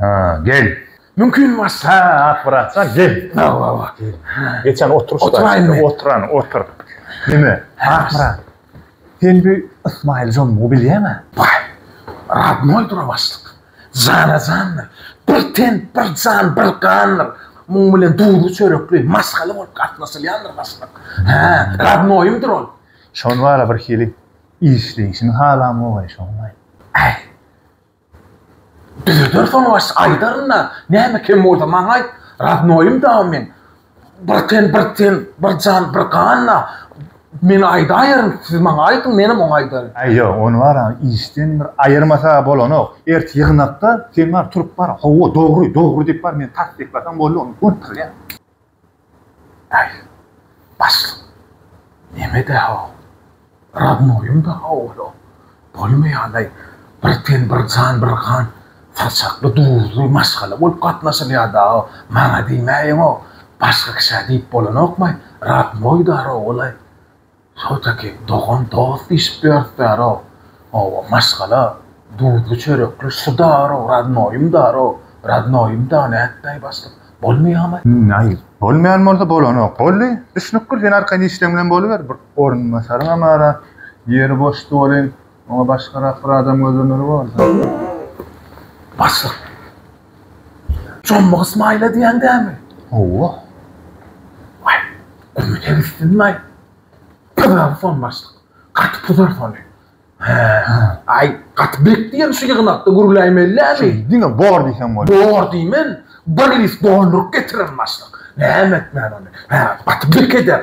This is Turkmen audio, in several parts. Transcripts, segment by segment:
Ha, gel. Mümkin bolsa, at bratjan, gel. Hawa, hawa. Geçen oturyş başynda oturan, otur. Neme? At brat. Sen bu Ysmaýyl Jonumy bilýäňä? Baý. Radnoýdyr o başlyk. Jana-jandyr. Bir ten, bir jan, bir gandyr. Muň bilen duzly-çörekli, maşgala bolup gatnaşylýandyr başlyk. Hä, radnoýymdyr ol. Şony bar-a birhili Işleýşini halamogay şonlaý. Äý. Düzeder soň başy aýdaryn-da, näme kem bolsa maňa aýt, rodnoýym dagy men. Bir ten bir ten, bir jan bir gan-a. Men aýdaýeryn, siz maňa aýdyň, menem oňa aýdaryn. Äý, ýok, ony bar-a, işden bir aýyrmasa bolonok. Ertir ýygnakda sen bar, turup bar, hawa, dogry, dogry diýip bar, meni tassyklasaň boldy, ony gönükdirýän. Häý, başlyk, neme-de-haw, Radnoýyň-da howlum bolmaýan-laý, bir ten, bir jan, bir gan, saçakly, duzly maşgala bolup gatnaşylýar dagy, maňa diýmäýeň-ow, başga kişä diýip bolanokmaý, Radnoý-da rowalaý, Tagtaky, dogan-dost diýşip ýörüpdär-ow. Hawa, maşgala, duzly-çörekli şu dar-ow, rodnoýym dar-ow. Rodnoýym dar nätdaý başlyk, bolmaýamy? Naýl, bolmaýan bolsa bolanok. Boldy, düşnükdir, sen arkaýyn işleň bilen boluber. Bir orunbasaryňam bar-a, ýeri boşdy welin, Oňa başgarak bir adam gözlemeli borda. Başlyk. Jommy Ysmaýyla diýýäň dämi? Hawa. Aý, gumy degişsinmi-aý? Pyragy son başlyk. Gaty pudar sony. Hä. Aý, gaty bek diýen şu ýygnakda gürläýmelidämi? Şeýdi diňe bor diýseň bolýar. Bor diýmen, bir list dolduryp getiren başlyk. Näme etmän ony? Hä, gaty bek eder.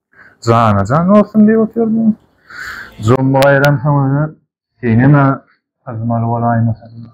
Jana jan bolsun diýip otyryn. Jommy gaýram soň özü senem-ä syzmaly bolaýmasaň.